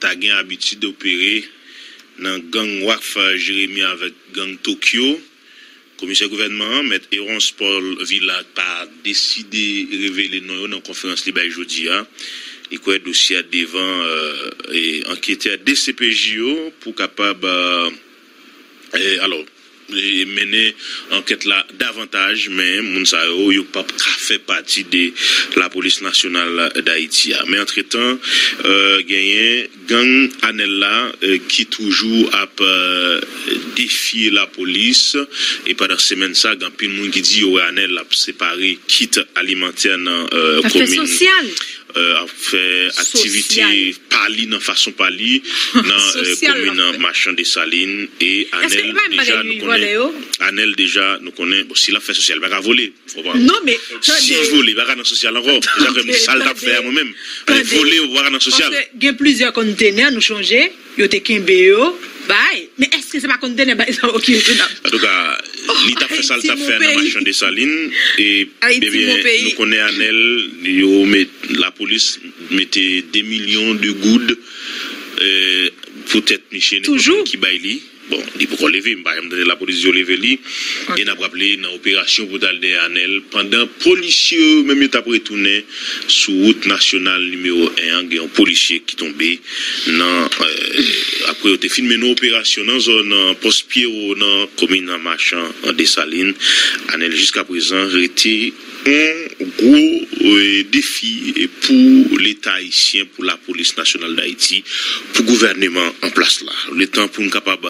ta gen abitid opere nan gang Wharf Jérémie avèk gang Tokyo, Komisè Gouvènman an, Mèt Erons Paul Villac pa deside revele non yo nan konferans li bay jodi a. Li kwè dosye a devan anketè dcpj yo pou kapab. alò mennen ankèt la davantaj men moun sa yo yo pap ka fè pati de lapolis nasyonal dayiti a men antretan genyen gang anèl la ki toujou ap defye lapolis e pandan semèn sa gen anpil moun ki di yo wè anèl ap separe kit alimantè nan komin. ap fè aktivite pa li nan fason pa li nan komin an machan desalin e anèl deja nou konnen anèl deja nou konnen bon si lap fè sosyal li paka vole sil vole li paka nan sosyal ankò se sa fè m di sal tap fè a mwen menm vole ou paka nan sosyal. Yo te kenbe yo bay. Men eske se pa kontene bay sa ok tou nap. Antouka li tap fè sal tap fè nan machan desalin ebyen nou konnen anel yo met lapolis mete 2 milyon de goud pou tèt miche nenpòt moun ki bay li. Bon li poko leve m pa janm tande lapolis di yo leve li e nap raple nan operasyon pou tal dèyè anèl pandan polisye yo yo menm yo tap retounen sou wout nasyonal nimewo 1 an gen yon polisye ki tonbe nan apre yo te fin mennen operasyon nan zòn pòs pyero nan komin machan an desalin anèl jiskaprezan rete Yon gwo defi pou leta ayisyen, pou lapolis nasyonal dayiti, pou gouvèneman an plas la. Li tan pou n kapab.